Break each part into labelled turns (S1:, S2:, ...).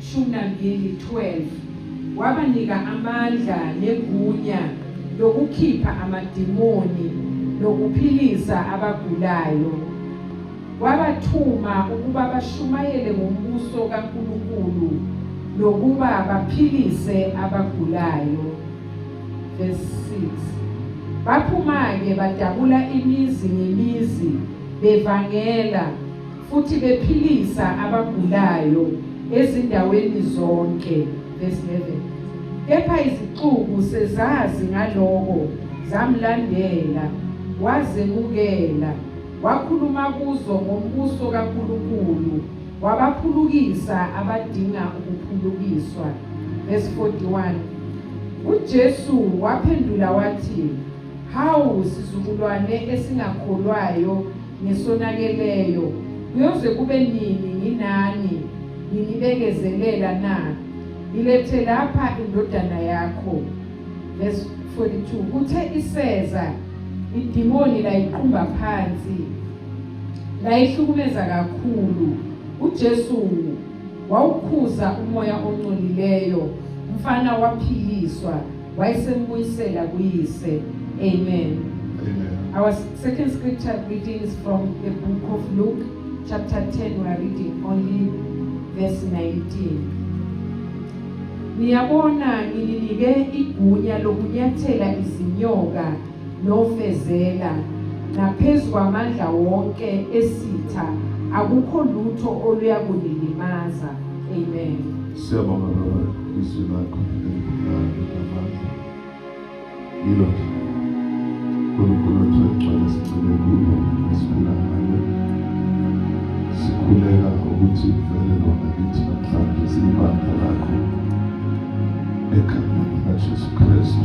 S1: Shumi nambili, 12 wabanika amandla negunya lokukhipha amadimoni nokuphilisa abagulayo. Wabathuma ukuba bashumayele ngombuso kaNkulunkulu nokuba baphilise abagulayo. Verse 6. Baphuma-ke badabula imizi ngemizi bevangela futhi bephilisa abagulayo ezindaweni zonke verse 11 kepha izixuku sezazi ngaloko zamlandela wazemukela wakhuluma kuzo ngombuso kaNkulunkulu wabaphulukisa abadinga ukuphulukiswa verse 41 uJesu waphendula wathi hawu sizukulwane esingakholwayo ngesonakeleyo, kuyoze kube nini nginani nginibekezelela na? Ngilethe lapha indodana yakho. Verse 42 kuthe iseza idimoni layiqumba phansi layihlukumeza kakhulu uJesu wawukhuza umoya ongcolileyo umfana waphiliswa Wayesembuyisela kuyise. Amen. Amen.
S2: Our second
S1: scripture reading is from the book of Luke, chapter 10. We are reading only verse 19. Niyabona ngininike igunya lokunyathela izinyoka nofezela naphezu kwamandla wonke esitha akukho lutho oluyakunilimaza amen siyabonga
S2: baba izwi lakho elibukhali yilo uNkulunkulu othe ugcwele sigcine kulo esiphila ngalo sikhuleka ukuthi vele lona kithi namhlanje siyibandla lakho ekhaya likaJesu Kristu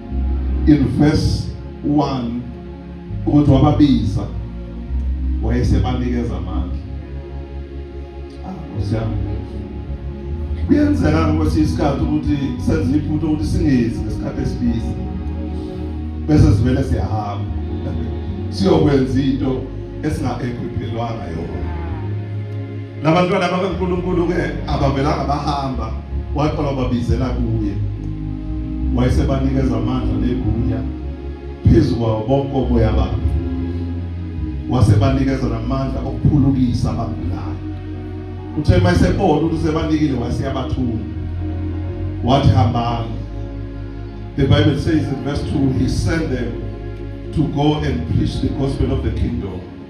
S2: in verse 1 ukuthi wababiza wayesebanikeza amandla ah kusiyami kuyenzeka ngokuthi isikhathi ukuthi senze iphutha ukuthi singezi ngesikhathi esibizi bese sivele siyahamba siyokwenza into esingaekhwiphelwanga yona Labantwana bakaNkulunkulu-ke abavelanga bahamba, waqala wababizela kuye, wayesebanikeza amandla negunya phezu kwawo bonke oboya babo, wasebanikeza namandla okuphulukisa abagulayo. Kuthe uma esebona ukuthi usebanikile, waseyabathuma wathi hambani. The Bible says in verse 2, he sent them to go and preach the gospel of the kingdom.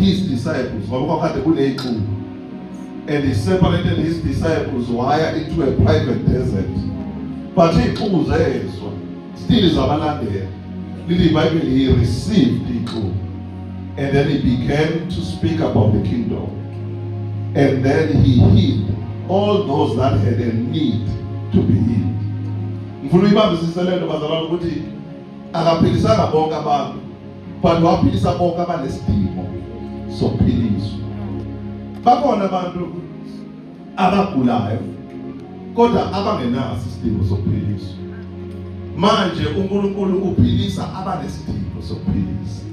S2: his disciples ngoba kwakade kuneyixuku and he separated his disciples waya into a private desert but iyixuku zezwa still zabalandela lili bible he received ixuku and then he began to speak about the kingdom and then he healed all those that had a need to be healed ngifuna uyibambisise lento bazalwane ukuthi akaphilisanga bonke abantu But waphilisa bonke abanesidingo sokuphiliswa. Bakhona abantu abagulayo kodwa abangenaso isidingo sokuphiliswa. Manje uNkulunkulu uphilisa abanesidingo sokuphilisa.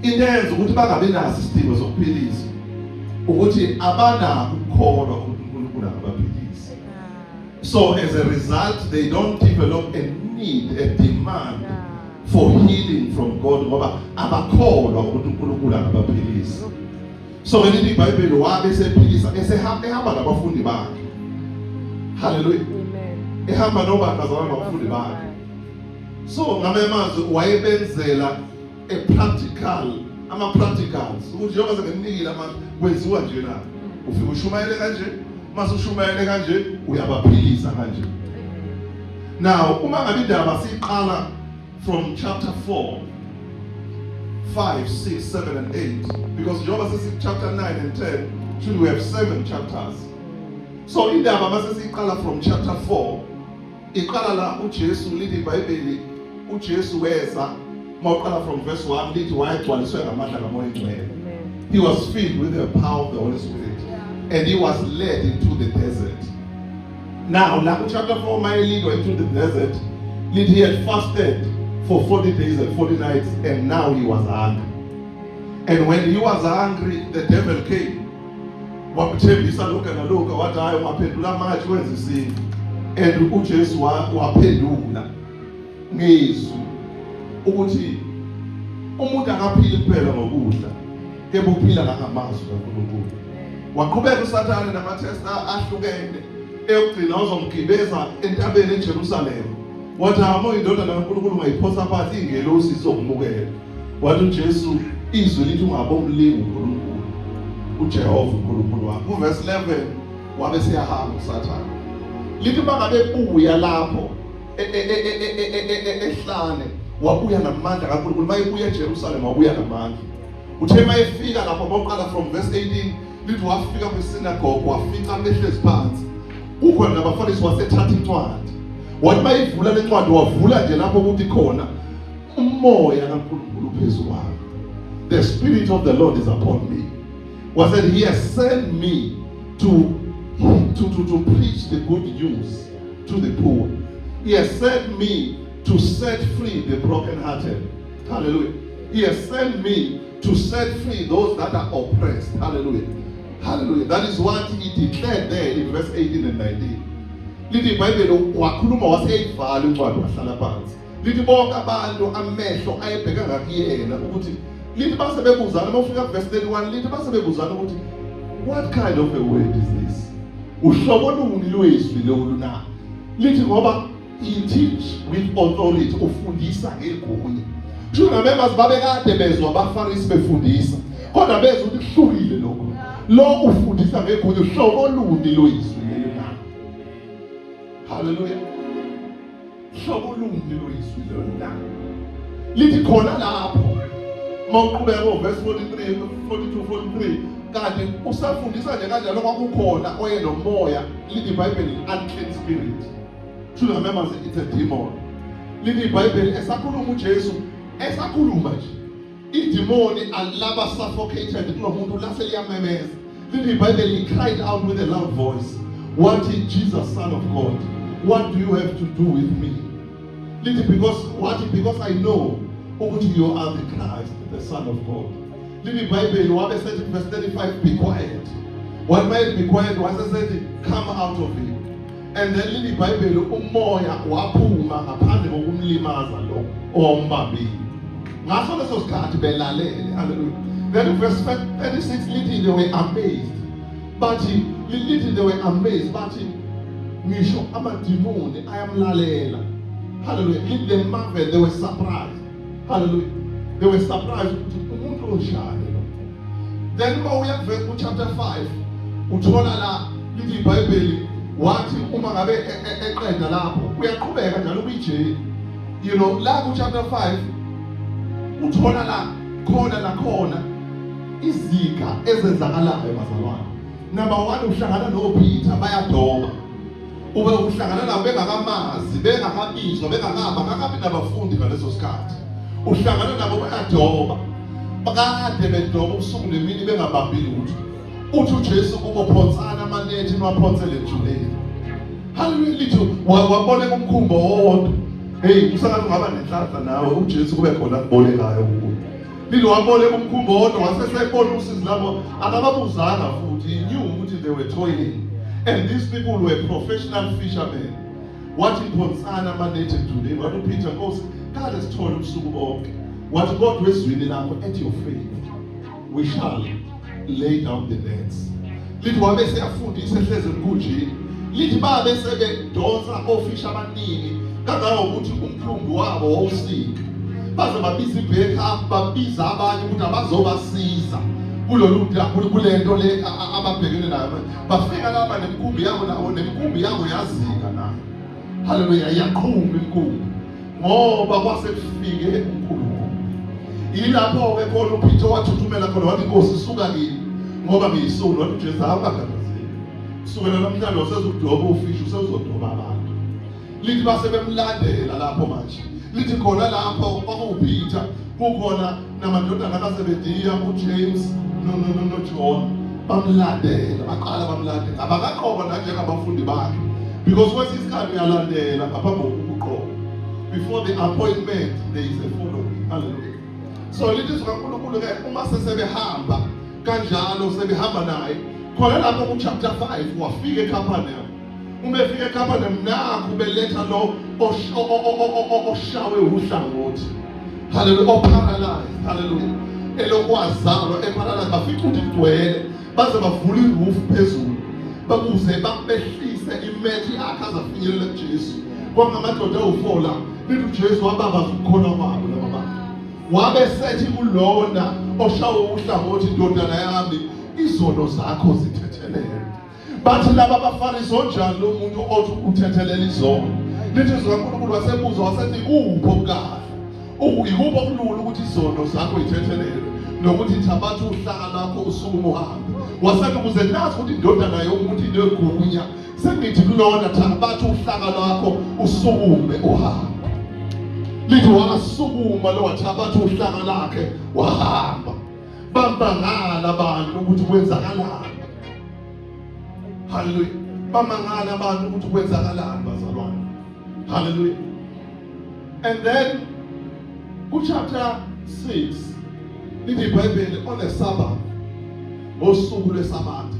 S2: Into eyenza ukuthi bangabi naso isidingo sokuphilisa ukuthi abanako ukukholwa ukuthi uNkulunkulu angabaphilisa. So as a result they don't develop a need a demand for healing from God ngoba abakholwa ukuthi uNkulunkulu angabaphilisa so ngelithi iBhayibheli wabe sephilisa esehamba ehamba nabafundi bakhe haleluya
S1: ehamba nobani bazalwane
S2: nabafundi bakhe so ngamanye amazwi wayebenzela a practical ama practicals ukuthi njengoba senginikile ama kwenziwa nje na ufike ushumayele kanje mase ushumayele kanje uyabaphilisa kanje Now uma ngabe indaba siqala from chapter 4 5 6 7 and 8 because njengoba sesi chapter 9 and 10 should we have seven chapters so indaba mase siqala from chapter 4 iqala la uJesu lithi iBhayibheli uJesu weza mawuqala from verse 1 lithi wayegcwaliswe ngamandla kaMoya Ngcwele he was filled with the power of the Holy Spirit and he was led into the desert Now, la chapter 4 my lead went to the desert, did he had fasted for 40 days and 40 nights, and now he was hungry. And when he was hungry, the devil came. wamthembisa lokhu nalokhu wathi hayi ungaphendula manje wenza isintu and uJesu waphendula ngezwi ukuthi umuntu akaphili kuphela ngokudla kepha uphila nangamazwi kaNkulunkulu waqhubeka usathane namathesta ahlukene eyokugcina uzomgibeza entabeni eJerusalema wathi hama indodana kaNkulunkulu ungayiphosa phansi ingelosi izokumukela wathi uJesu izwi lithi ungabomlingi uNkulunkulu uJehova uNkulunkulu wakho uverse 11 wabe siyahamba usathane lithi bangabe buya lapho ehlane wabuya namandla kaNkulunkulu mayebuya eJerusalema wabuya namandla uthe uma efika lapho uma uqala from verse 18 lithi wafika kwisinagoge wafica behlezi phansi kukhona nabafundisi wasethatha incwadi wathi uma ivula le ncwadi wavula nje lapho ukuthi khona umoya kaNkulunkulu phezu kwami the spirit of the lord is upon me was that he has sent me to to to, to preach the good news to the poor he has sent me to set free the brokenhearted Hallelujah. He has sent me to set free those that are oppressed. Hallelujah. Hallelujah. That is what he declared there in verse 18 and 19. Lithi iBhayibheli wakhuluma waseyivala incwadi wahlala phansi. Lithi bonke abantu amehlo ayebheka ngakuyena ukuthi lithi base bebuzana uma ufika verse 31 lithi base bebuzana ukuthi what kind of a word is this? Uhlobo luni lwezwi lolu na? Lithi ngoba He teach with authority, ufundisa ngegunya. Kusho ngamembers babekade bezwa abaFarisi befundisa. Kodwa bezwa ukuthi kuhlukile lokho. Lo ufundisa ngegunya uhlobo oluni loyizwi leli na. Hallelujah. Uhlobo oluni loyizwi leli na. Lithi khona lapho mawuqhubeka ovesi 43 42 43 kanti usafundisa nje kanjalo kwakukhona oye nomoya lithi ibhayibheli unclean spirit to the members it's a demon lini ibhayibheli esakhuluma ujesu esakhuluma nje idimoni alaba suffocated kulo muntu lase liyamemeza lini ibhayibheli he cried out with a loud voice wathi jesus son of god what do you have to do with me lithi because wathi because i know ukuthi you are the christ the son of god lini ibhayibheli wabe sethi verse 35 be quiet One man required was said, Come out of him. and then lini ibhayibheli umoya waphuma ngaphandle kokumlimaza lo ombambile ngaso leso sikhathi belalele haleluya then verse 36 lithi they were amazed bathi lithi they were amazed bathi ngisho amadimoni ayamlalela haleluya lithi they marveled they were surprised haleluya they were surprised ukuthi umuntu onjani lo then uma uya kuchapter 5 uthola la lithi ibhayibheli wathi uma ngabe e, e, eqeda lapho uyaqhubeka njalo kwijeli you know la kuchapter 5 uthola la khona nakhona iziga ezenzakalayo bazalwane number 1 uhlangana noPeter bayadoba Ube uhlangana nabo bengakamazi, bengakabizwa, bengakaba, ngakabi nabafundi ngaleso sikhathi. Uhlangana nabo bayadoba. Bakade bedoba ubusuku nemini bengabambi lutho. Uthi uJesu kubo phonsana amanethi niwaphonsele ejuleni. Haleluya litho wabona umkhumbo wodwa. Hey, usakathi ungaba nenhlanhla nawe uJesu kube khona kubolekayo kuwe. Phinde waboleka umkhumbi owodwa wase sebona usizi labo akababuzanga futhi he knew ukuthi they were toiling and these people were professional fishermen wathi phonsana amanethi emdulini wathi uPeter Nkosi kade sithole ubusuku bonke wathi kodwa ezwini lakho at your faith we shall lay down the nets lithi wabe seyafundisa ehlezi emkhunjini lithi babe sebedonsa ofisha abaningi kangangokuthi umkhumbi wabo wawusika baze babiza ibheka babiza abanye ukuthi abazobasiza kulolu kule nto le ababhekene nayo bafika laba nemkhumbi yabo nabo nemkhumbi yabo yazika nayo haleluya yaqhuma inkungu ngoba kwase kufike uNkulunkulu ilapho ke khona uPitso wathuthumela khona wathi inkosi suka kimi ngoba ngiyisulu wathi uJesu awukakhathazeki sukela namhlanje usezodoba ufishi usezodoba abantu lithi base bemlandela lapho manje lithi khona lapho kwakuwuPitha kukhona namadodana kaZebediya uJames noJohn bamlandela baqala bamlandela abakaqoba nanjengabafundi bakhe because kwesinye isikhathi uyalandela ngaphambi kokuqoba before the appointment there is a following hallelujah so lithi zikaNkulunkulu ke uma sesebehamba kanjalo sebehamba naye khona lapho ku chapter 5 wafika eCapernaum uma efika ekhapha nakho ubeletha lo oshawe uhlangothi haleluya oparalyze haleluya elokwazalwa eparalyze bafica ukuthi kugcwele baze bavule irufu phezulu bakuze babehlise imethi yakhe azafinyelela kujesu kwangamadoda awufola lithi ujesu wababaza ukukhona kwabo laba bantu wabe sethi kulona oshawe uhlangothi indodana yami izono zakho zithethelele bathi laba bafarisi onjani lo muntu othi uthethelela izono lithi zikankulunkulu wasebuza wasethi kuphi okukahle yikuphi okulula ukuthi izono zakho ithethelelwe nokuthi thabatha uhlaka lakho usuku uhambe wasethi ukuze nazi ukuthi indodana yomuntu inegunya sengithi kulona thabatha uhlaka lwakho usukume uhambe lithi wasukuma lo wathabatha uhlaka lakhe wahamba bamangala abantu ukuthi kwenzakalani haleluya bamangala abantu ukuthi kwenzakalani bazalwane haleluya and then ku chapter 6 lithi ibhayibheli on the sabbath ngosuku lwesabatha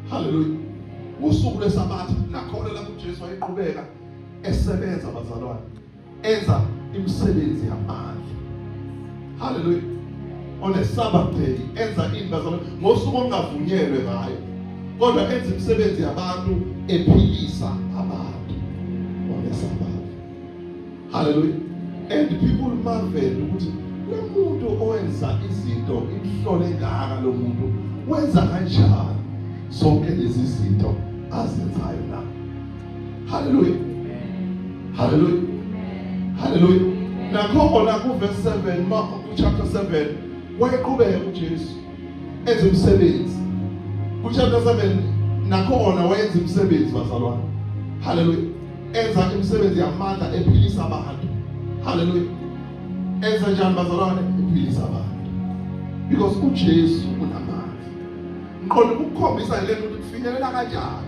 S2: haleluya usuku lwesabatha nakhona lapho uJesu wayeqhubeka esebenza bazalwane enza imisebenzi yamandla haleluya on a sabbath day enza into zalo ngosuku ongavunyelwe ngayo kodwa enza imisebenzi yabantu ephilisa abantu on a sabbath haleluya and people marvel ukuthi lomuntu owenza izinto imhlole ngaka lomuntu wenza kanjani zonke lezi zinto azenzayo na Hallelujah. Hallelujah. Hallelujah. Nakhona ku verse 7 ma chapter 7 wayeqhubeka uJesu enza umsebenzi. Ku chapter 7 nakhona wayenza umsebenzi bazalwane. Hallelujah. Enza imisebenzi yamandla ephilisa abantu. Hallelujah. Enza njani bazalwane? Ephilisa abantu. because uJesu unamandla ngiqonda ukukhombisa lento ukuthi kufinyelela kanjani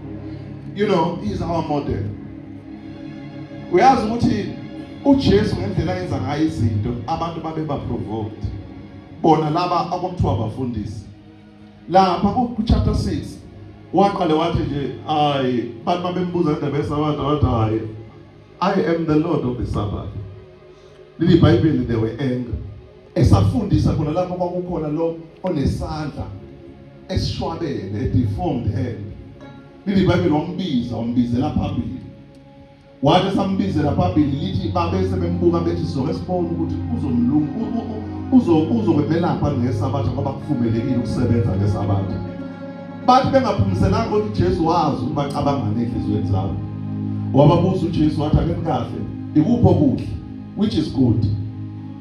S2: you know he is our model uyazi ukuthi uJesu ngendlela yenza ngayo izinto abantu babe ba provoked bona laba akwakuthiwa abafundisi lapha ku chapter 6 waqale wathi nje hayi bantu babembuza indaba yesabatha wathi hayi i am the lord of the sabbath leli bible they were angry esafundisa khona lapho kwakukhona lo onesandla esishwabene deformed hand leli bible wambiza wambizela phambili wathi sambizela phambili lithi babe sebembuka bethi sizoke sibone ukuthi uzomlungu uzokwebelapha ngesabatha ngoba kuvumelekile ukusebenza ngesabatha bathi bengaphumiselanga ukuthi Jesu wazi ukuba cabangane enhliziyweni zabo wababuza uJesu wathi akenikahle ikuphi okuhle which is good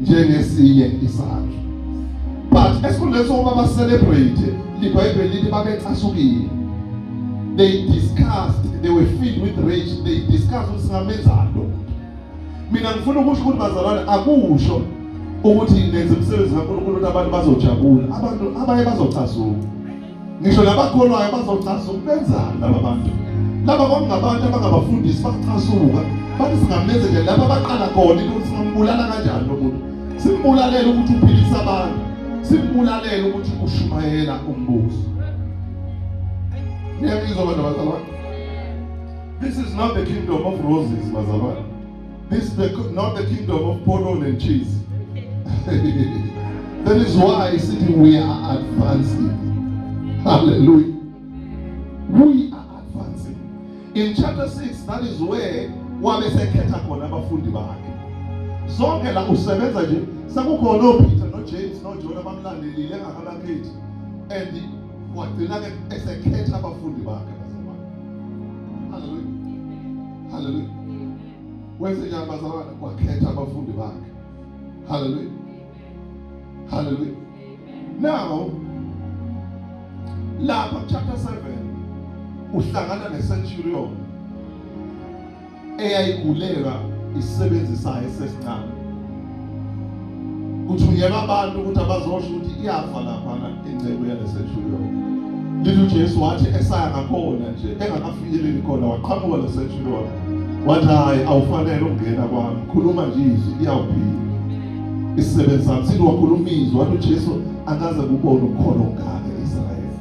S2: njengesinye isakhe but esikhundleni sokuba ba celebrate libhayibheli lithi babecasukile they discussed they were filled with rage they discussed ukuthi singamenzani lo mina ngifuna ukusho ukuthi bazalwane akusho ukuthi nenze umsebenzi kaNkulunkulu ukuthi abantu bazojabula abantu abaye bazocasuka ngisho labakholwayo bazocaza ukubenzani laba bantu laba kwakungabantu abangabafundisi bacasuka bathi singamenze nje laba baqala khona into ukuthi singambulala kanjani lo muntu simbulalele ukuthi uphilisa abantu simbulalele ukuthi ushumayela umbuso niyangizwa abantu abazalwane this is not the kingdom of roses bazalwane This is the, not the kingdom of portal and cheese. that is why I said we are advancing. Hallelujah. We are advancing. In chapter 6, that is where wabe sekhetha khona abafundi bakhe zonke la usebenza nje sekukhona opeter nojames nojona bamlandelile engakabakhethi and wagcina-ke esekhetha abafundi bakhe haleluya wenze njani bazalwane wakhetha abafundi bakhe haleluya haleluya now lapha chapter 7 uhlangana ne-centurion eyayigulelwa isisebenzi sayo sesincane kuthunyelwa abantu ukuthi abazosho ukuthi iyafa laphana ingcebo yalesethulo lithi uJesu wathi esaya ngakhona nje engakafikeleli khona waqhamuka lesethulo wathi hayi awufanele ukungena kwami khuluma nje izwi iyawuphila isisebenzi sami sithi wakhuluma izwi wathi uJesu akaze kubone ukukhona okungaka e-Israyeli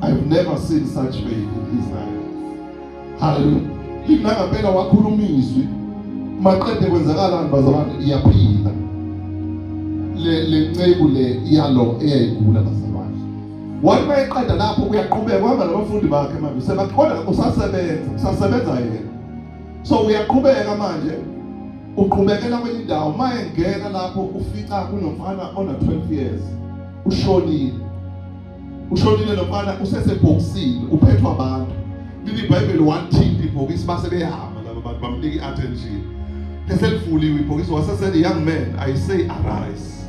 S2: I've never seen such faith in Israel haleluya linangempela wakhuluma izwi maqede kwenzakalani bazalwane iyaphila le le nceku le yalo eyayigula bazalwane wathi mayeqeda lapho kuyaqhubeka kwaba nabafundi bakhe manje sebaqhona usasebenza usasebenza yena so uyaqhubeka manje uqhubekela kwenye indawo maye ngena lapho ufica kunomfana ona 12 years ushonile ushonile lo mfana usesebhokisini uphethwa abantu lili ibhayibheli wathinta ibhokisi base behamba laba bantu bamnika i-attention eselivuliwe ibhokisi wasesele young man i say arise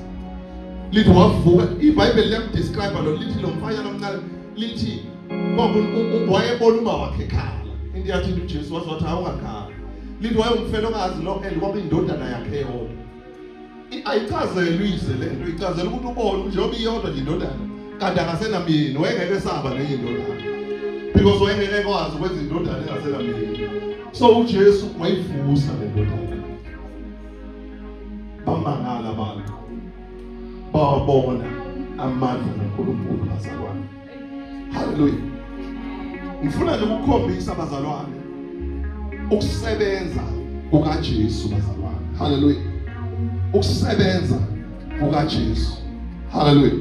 S2: lithi wavuka ibhayibheli liyamdescribe lo lithi lo mfanyana omncane lithi wayebona uma wakhe ekhala into yathinta ujesu waze wathi awungakhala lithi wayewumfela ongazi lo and kwakuyindodana yakhe yodwa ayichazelwe ize le nto ichazela ukuthi ubone njengoba iyodwa nje indodana kanti akasenamyeni wayengeke esaba nenye indodana because wayengeke ekwazi ukwenza indodana engasenamyeni so ujesu wayivusa le ndodana bamangala abantu bawabona amandla kankulunkulu bazalwane haleluya ngifuna nje ukukhombisa bazalwane ukusebenza kukaJesu bazalwane haleluya ukusebenza kukaJesu haleluya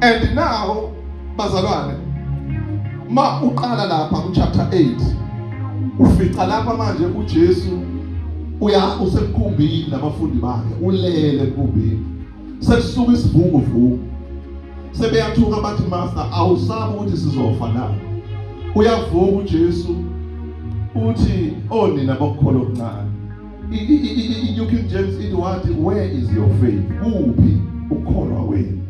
S2: and now bazalwane ma uqala lapha ku chapter 8 ufica lapha manje uJesu uya usemkhumbini nabafundi bakhe ulele emkhumbini sekusuka isivunguvungu sebeyathuka bathi master awusabi ukuthi sizofa na uyavuka uJesu uthi onina oh, bokukholwa okuncane iNew King James ithi wathi where is your faith kuphi ukukholwa wenu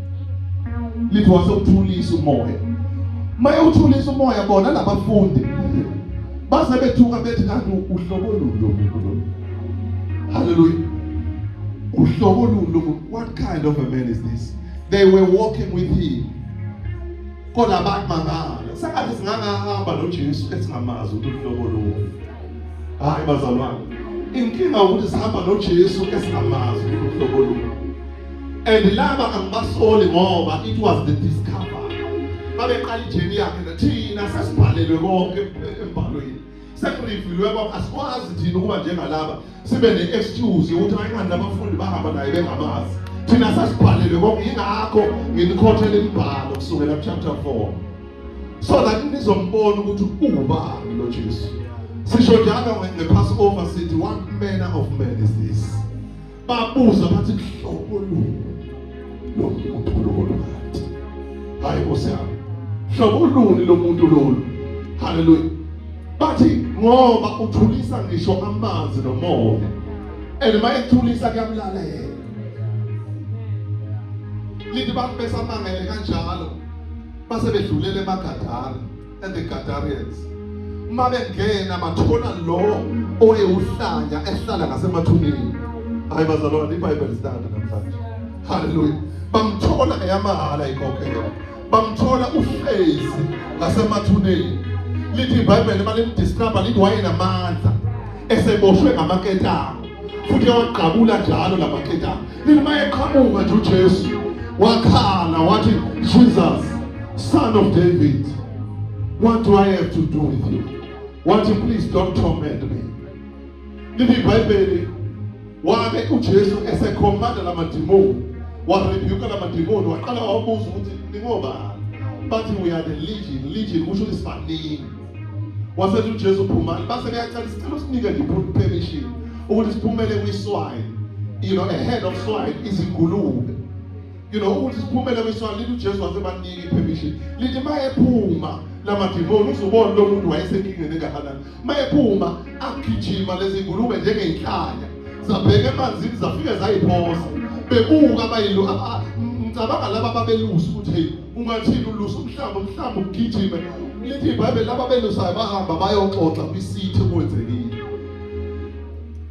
S2: lithi wase uthulisa umoya maye uthulisa umoya bona labafundi baze bethuka bethi kanti uhlobo luni lo muntu lo Hallelujah. What kind of a man is this? They were walking with him. Kodwa abantu mangala. Sengathi singangahamba noJesu esingamazi ukuthi uhlobo lolu. Hayi bazalwane. Inkinga ukuthi sihamba noJesu esingamazi ukuthi uhlobo lolu. And laba angibasoli ngoba it was the discovery. Babeqala ijeni yakhe nathina sesibhalelwe konke embhalweni. sekuriviliwe kwakho asikwazi thina ukuba njengalaba sibe ne-excuse yokuthi ayingani labafundi bahamba naye bengamazi thina sasibhalelwe konke yingakho nginikhothela imibhalo kusukela kuchapter 4 so that nizombona ukuthi uwubani lo jesu sisho njalo nge-passover sithi what manner of man is this babuza bathi hlobo luni lomuntu lolu kanti hayi nkosi yami hlobo luni lomuntu lolu haleluya bathi ngoba uthulisa ngisho amanzi nomoya and uma ethulisa kuyamlala yena lithi bantu besamangele kanjalo base bedlulele emagadala and the Gadarians uma bengena bathola lo owewuhlanya ehlala ngasemathuneni hayi bazalwane ibhayibheli sitanda namhlanje haleluya bamthola eyamahhala ikhokhela bamthola uhlezi ngasemathuneni lithi ibhayibheli uma limdisturba lithi wayenamandla eseboshwe ngamaketanga futhi yawagqabula njalo la maketanga Mina mayeqhamuka nje uJesu wakhala wathi Jesus son of David what do I have to do with you wathi please don't torment me lithi iBhayibheli wabe uJesu esekhomanda lamadimoni warebuka lamadimoni waqala wabuza ukuthi ningobani bathi we are the legion legion kusho isibaningi wasethi uJesu phumani base beyacela isicelo usinike nje permission ukuthi siphumele kwiswayi you know ahead of swine izingulube you know ukuthi siphumele kwiswayi lithi uJesu wasebanika ipermission lithi mayephuma lamadimoni uzubona lo muntu wayesenkingeni engakanani mayephuma agijima lezi ngulube njengeyinhlanya zabheka emanzini zafike zayiphosa bebuka abayilu ngicabanga laba babelusa ukuthi hey ungathini ulusa umhlaba umhlaba ugijime lithi ibhayibheli laba belusayo bahamba bayoxoxa kwisithi kwenzekile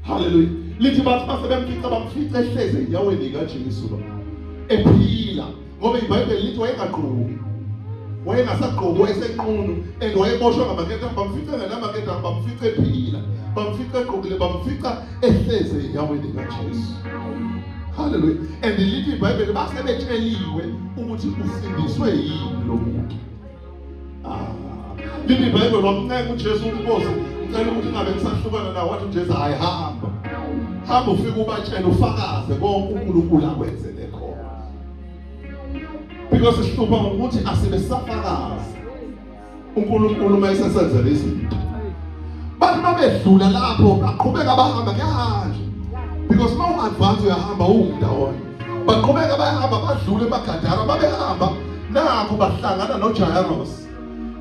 S2: haleluya lithi bathi base bemfica bamfica ehleze enyaweni likajesu lo ephila ngoba ibhayibheli lithi wayengagqoki wayengasagqoki wayesenqunu and wayeboshwa ngamaketanga bamfica ngenamaketanga bamfica ephila bamfica egqokile bamfica ehleze enyaweni likajesu haleluya and lithi ibhayibheli base betsheliwe ukuthi usindiswe yini lo muntu ah, lithi ibhayibheli wamncenga ujesu ukuboza ngicela ukuthi ngabe ngisahlukana nawo wathi ujesu hayi hamba hamba ufike ubatshele ufakaze konke unkulunkulu akwenzele khona because sihlupha ngokuthi asibesafakazi uNkulunkulu uma esesenzele izinto bathi uma bedlula lapho baqhubeka bahamba kuyahanje because uma ungadvansi uyahamba uwumndawonye baqhubeka bayahamba badlule emagadara babehamba nakho bahlangana nojayaros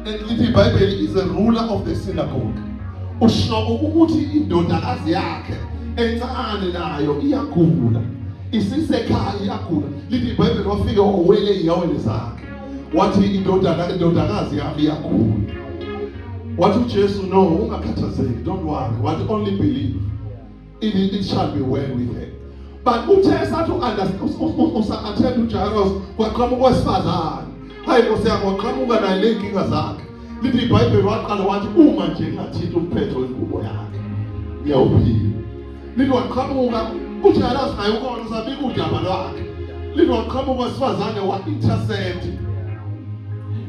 S2: and lithi ibhayibheli is a ruler of the synagogue usho ukuthi indodakazi yakhe encane nayo iyagula isisekhaya iyagula lithi ibhayibheli wafike wawele iyaweni zakhe wathi indodana indodakazi yami yakhula wathi uJesu no ungakhathazeki don't worry wathi only believe it, it shall be well with her but uthe esathi usa-attend ujairus kwaqhamuka owesifazane hayi nkosi yami waqhamuka naye ley'nkinga zakhe lithi ibhayibheli waqala wathi uma nje ngingathinta umphetho wengubo yakhe ngiyawuphila Linoqhamuka uthi alazi naye ukona usabika udaba lwakhe. Linoqhamuka wesifazane wa intercept.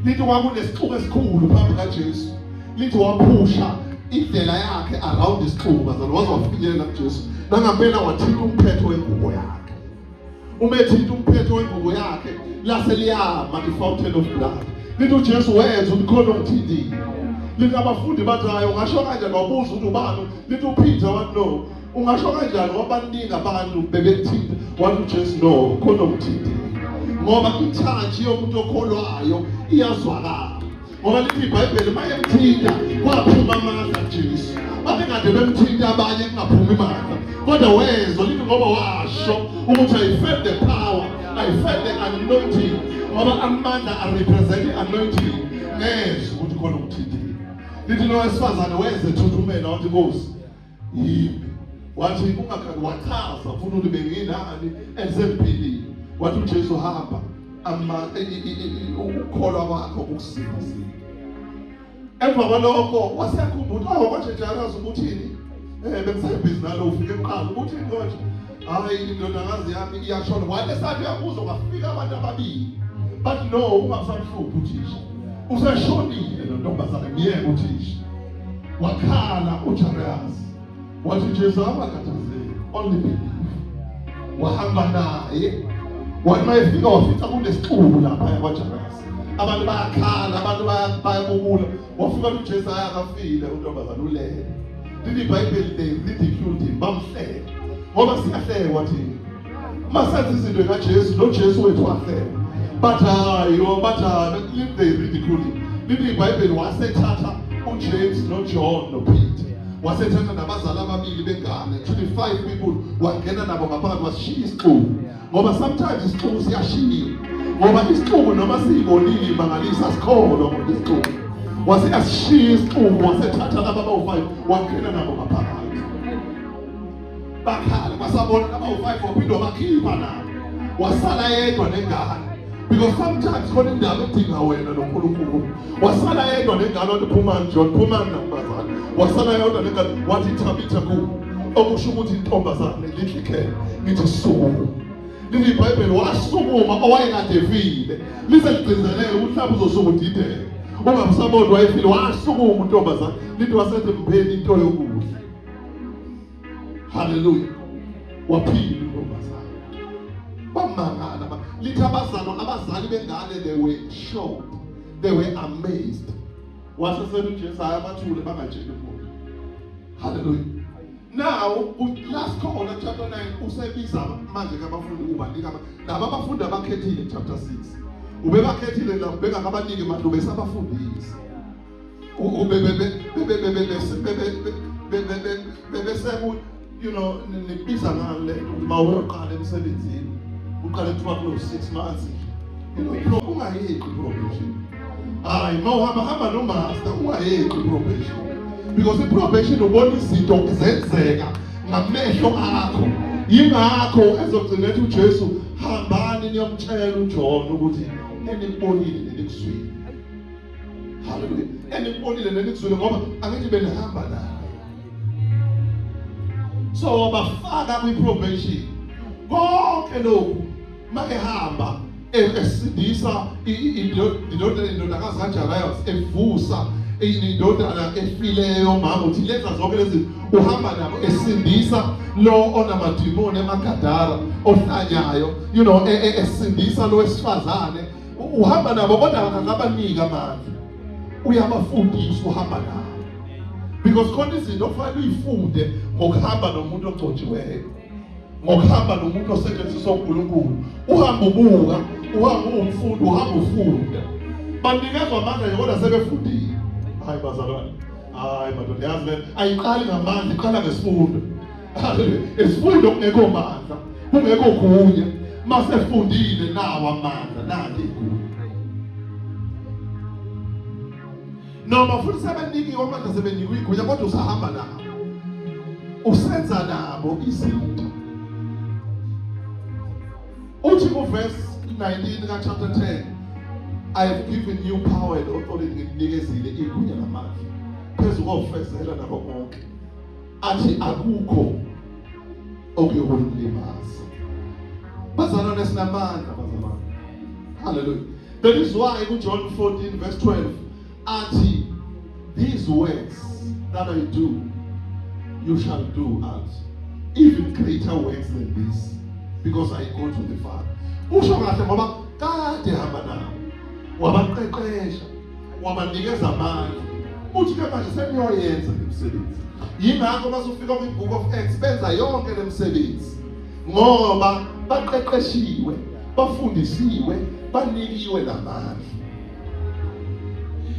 S2: Lithi kwakunesixuku esikhulu phambi kaJesu. Lithi waphusha indlela yakhe around isixuku bazalwa waze wafinyelela kuJesu. Nangampela wathinta umphetho wengubo yakhe. uma ethinta umphetho wengubo yakhe lase liyama i-fountain of blood lithi ujesu wenza ukuthi khona omthintile lithi abafundi bathi hayi ungasho kanjani wabuza ukuthi ubani lithi uphitha wathi no ungasho kanjani wabaningi abantu bebekuthinta wathi ujesu no khona omthintile ngoba ithaji yomuntu okholwayo iyazwakala ngoba lithi ibhayibheli uma emthinta kwaphuma amandla jesu babekade bemthinta abanye kungaphumi mandla kodwa wezwa lithi ngoba washo ukuthi i felt the power i felt the anointing ngoba amandla arepresent i-anointing nezwa ukuthi khona umthintile lithi nowesifazane weze thuthumela wathi nkosi yini wathi ungakhali wachaza funa ukuthi benginani and sengiphilile wathi uJesu hamba ama ukukholwa kwakho ukusiza emva kwalokho waseyakhumbula oh manje njalo azi ukuthini eh bengisebhizi nalo ufike eqala ukuthi manje hayi indodakazi yami iyashona wale sathi uyabuza kwafika abantu ababili but no ungamsamhluphi uthisha useshonile lo ntombazane myeke uthisha wakhala ujariyasi wathi jesu awakhathazeki only believe wahamba naye wathi mayefika wafica kunesixuku lapha yakwajariyasi abantu bayakhala abantu bayabubula wafika uJesu haya akafile untombazana ulele lili ibhayibheli they ridiculed him bamhleka ngoba siyahlekwa thina uma senza izinto ekajesu nojesu wethu wahlekwa bathi hayi o bathi hayi lili they ridiculed him lili ibhayibheli wasethatha ujames nojohn nopeter wasethatha nabazali ababili bengane 25 people wangena nabo ngaphakathi wasishiya isixuku ngoba sometimes isixuku siyashiya ngoba isixuku noma siyibonile imangalisa sikholwa ngoba isixuku wase asishiya isixuku wasethatha laba bawu-five wakhela nabo ngaphakathi bakhala basabona laba bawu-five waphinde wabakhipha nabo wasala yedwa nengane because sometimes khona indaba edinga wena noNkulunkulu wasala yedwa nengane wathi phumani John phumani nabazali wasala yedwa nengane wathi thabitha ku okusho ukuthi intombazane lidli khela ngithi sukuma leli bhayibheli wasukuma owayekade efile lize ligcizeleke ukuthi mhlawumbe uzosuka udideke ungamsaboni wayefile wasukuma untombazane lithi wasethi mpheni into yokudla Haleluya. Waphila intombazane. Bamangala ba. Lithi abazalwa abazali bengane they were shocked. They were amazed. Wase senu Jesu ayabathule bangatsheli umuntu. Haleluya. Now last khona chapter 9 usebiza manje kabafundi ukuba nika laba abafundi abakhethile chapter 6. Ubebakhethile la ubeka kabanike manje ubesabafundisa. bebeseku you know nibiza ngani le uma uyoqala emsebenzini uqale kuthiwa kulo six months bro ungayeqi probation hayi ma uhamba hamba nomaster ungayeqi probation because iprobation ubona izinto zenzeka ngamehlo akho yingakho ezogcina ethi uJesu hambani niyomtshela uJohn ukuthi enibonile nenikuswile Hallelujah. Enibonile nenikuzwile ngoba angithi benihamba naye. So wabafaka kwi probation. Konke lokhu makehamba esindisa indodana indodakazi kaJarayos evusa indodana efileyo mama uthi lenza zonke lezi uhamba nabo esindisa lo onamadimoni emagadara ohlanyayo you know e, e, esindisa lo wesifazane uhamba nabo kodwa akabaniki amandla uyabafundisa uhamba nabo because khona izinto okufanele uyifunde ngokuhamba nomuntu ogcotshiweyo ngokuhamba nomuntu osetshenziswa uNkulunkulu uhamba ubuka uhamba umfundi uhamba ufunda banikezwa amandla yona sebefundile hayi bazalwane hayi madoda yazi le ayiqali ngamandla iqala ngesifundo isifundo kungekho mandla kungekho kunye masefundile nawa amandla nake igunya noma futhi sebenikiwe amandla sebenikwe igunya kodwa usahamba nabo usenza nabo izinto uthi kuverse 19 ka chapter 10 I have given you power and authority nginikezile igunya namandla phezu kofezela nabo bonke athi akukho okuyokulimaza bazalwane esinamandla bazalwane haleluya that is why kujohn 14 verse 12 athi these words that i do you shall do as even greater works than this because i go to the father usho kahle ngoba kade hamba nawo wabaqeqesha wabanikeza amandla uthi ke manje seniyoyenza imisebenzi yingakho bazofika kwi-book of acts benza yonke le misebenzi ngoba baqeqeshiwe bafundisiwe banikiwe namandla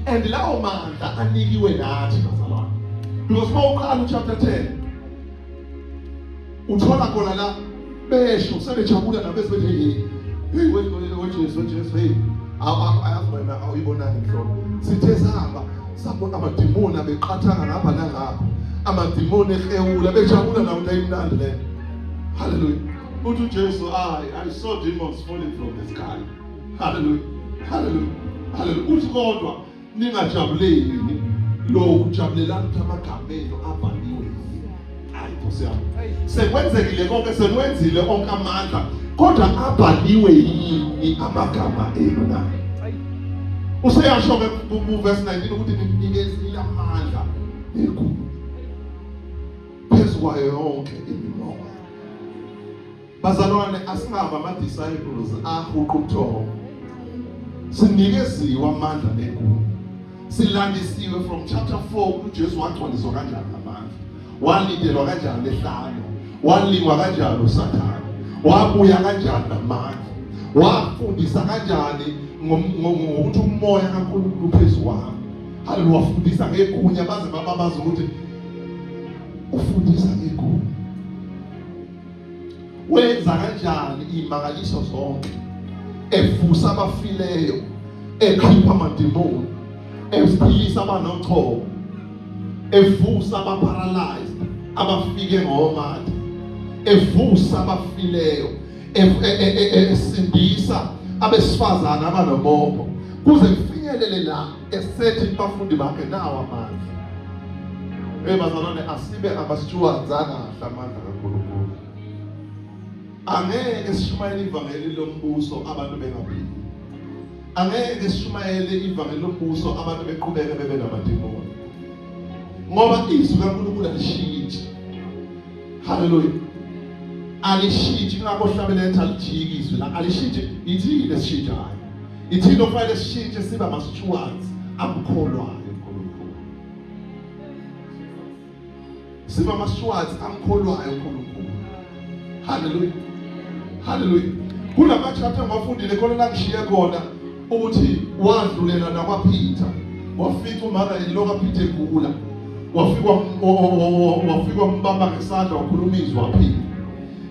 S2: and lawo mandla anikiwe nathi bazalwane because uma uqala uchapter 10 uthola khona la besho sebejabula nabo esibethi hey hey wejesu wejesu hey ayazi wena awuyibonani mhlobo sithe sihamba sabona amadimoni abeqathanga ngapha nangapha amadimoni ehewula bejabula nawo into ayimnandi le haleluya uthi ujesu i i saw demons falling from the sky haleluya haleluya haleluya uthi kodwa ningajabuleli lokhu jabulelani ukuthi amagama enu abhaliwe hayi nkosi yami sekwenzekile konke sekwenzile onke amandla kodwa abhaliwe yini amagama enu na useyasho-ke kuverse 19 ukuthi ninikezile amandla enkulu phezu kwayo yonke imimoya Bazalwane asingaba ama disciples ahuqa ubuthongo. Sinikeziwe amandla negunya. Silandisiwe from chapter 4 uJesu wagcwaliswa kanjani amandla. Walindelwa kanjani ehlanya. Walingwa kanjani uSathane. Wabuya kanjani namandla. Wafundisa kanjani ngokuthi umoya kaNkulunkulu phezulu wami. Haleluya wafundisa ngegunya baze bababaza ukuthi ufundisa ngegunya. wenza kanjani imangaliso zonke evusa abafileyo ekhipha amademoni ephilisa abanochoko evusa abaparalyzed abafike ngomatha evusa abafileyo e, e, e, esindisa
S3: abesifazana abanoboko kuze kufinyelele la esethi kubafundi bakhe nawo amandla Hey bazalwane asibe abasijuwanzanga kahle amandla kaNkulunkulu. Angeke sishumayele ivangeli lombuso abantu bengaphili. Angeke sishumayele ivangeli lombuso abantu beqhubeke bebe namademoni. Ngoba izwi kaNkulunkulu alishintshi. Haleluya. Alishintshi ngakho hlabeletha lijiki izwi la alishintshi ithini lesishintshayo. Ithini okufanele sishintshe siba ama-stewards amkholwayo uNkulunkulu. Siba ama-stewards amkholwayo uNkulunkulu. Hallelujah. Hallelujah. Kunama-chapter ngiwafundile khona la ngishiye khona ukuthi wadlulela nakwaPeter. Wafica umaka eloka Peter egula. Wafikwa wafikwa mbamba ngesandla wakhuluma izwi waphila.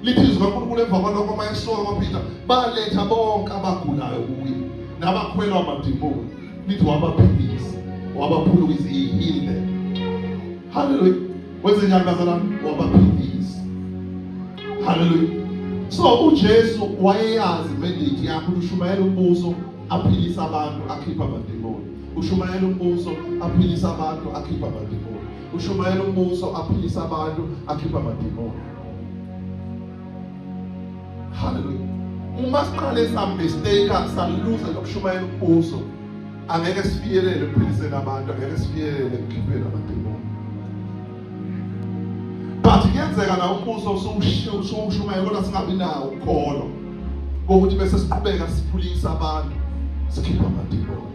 S3: lithi izwi kaNkulunkulu emva kwalokho uma esoka kwaPeter baletha bonke abagulayo kuye nabakhwelwa amadimoni lithi wabaphilisa wabaphulukisa he healed them haleluya wenze njani bazalwane wabaphilisa haleluya so uJesu wayeyazi mandate yakhe ukushumayela umbuso aphilisa abantu akhipha amadimoni ushumayela umbuso aphilisa abantu akhipha amadimoni ushumayela umbuso aphilisa abantu akhipha amadimoni Hallelujah. Uma siqale samistake saluza lokushumayela umbuso angeke sifikelele ekuphiliseni abantu angeke sifikelele ekukhipheni amademoni but kuyenzeka la umbuso usuwushumayela kodwa singabi nawo ukholo kokuthi bese siqhubeka siphulisa abantu sikhipha amademoni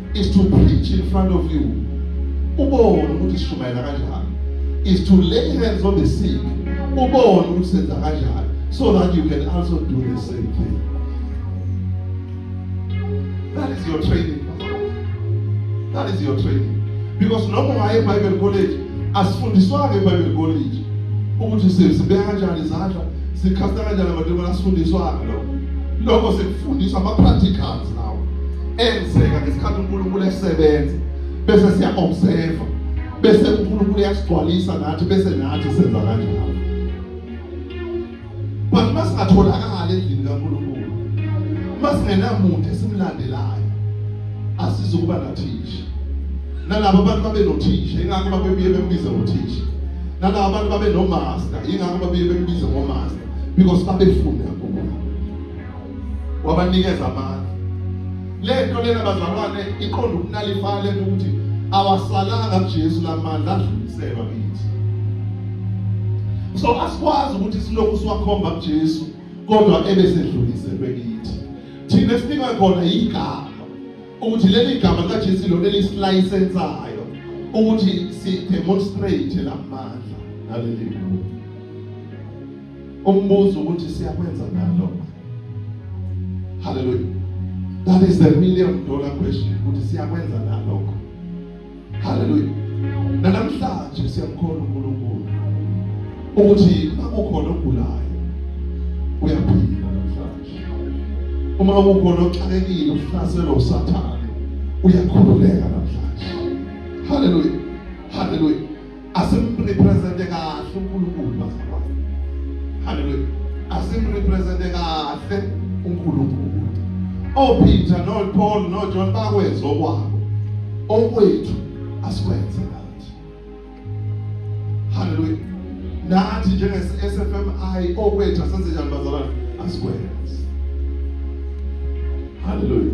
S3: is to preach in front of you ubone ukuthi sishumayela kanjani is to lay hands on the sick ubone ukuthi senza kanjani so that you can also do the same thing that is your training that is your training because noma waye bible college asifundiswanga ebible college ukuthi sibeka kanjani izandla sikhasta kanjani amadimoni asifundiswanga lokho lokho sikufundiswa ama practicals enzeka ngesikhathi uNkulunkulu esebenza bese siya observe bese uNkulunkulu uyasigcwalisa nathi bese nathi senza kanjalo but masingatholakala endlini kaNkulunkulu masingenamuntu esimlandelayo asizukuba nathisha nalabo bantu babe nothisha ingakho babebuye bembize ngothisha nalabo bantu babe nomaster ingakho babuye bembize ngomaster because babefunda wabanikeza amandla lento lena bazalwane iqonda ukunalifana lento ukuthi awasalanga kuJesu lamandla adluliselwa kithi so asikwazi ukuthi silokhu siwakhomba kuJesu kodwa ebe sedluliselwe kithi thina sinikwe khona igama ukuthi leli gama likaJesu lona elisilayisensayo ukuthi si demonstrate lamandla naleli Umbuzo ukuthi siyakwenza na lokho? Hallelujah. That is the million dollar question ukuthi siyakwenza na lokho? Hallelujah. Namhlanje siyamkhona uNkulunkulu ukuthi makukhona ogulayo uyaphila namhlanje. Uma kukhona oxakekile uhlaselwa uSathane uyakhululeka namhlanje. Hallelujah. Hallelujah. asimrepresente kahle uNkulunkulu bazalwane haleluya asimrepresente kahle uNkulunkulu oPeter noPaul noJohn bakwenza okwabo okwethu asikwenze nathi haleluya nathi njenge-SFMI okwethu asenze njani bazalwane asikwenze haleluya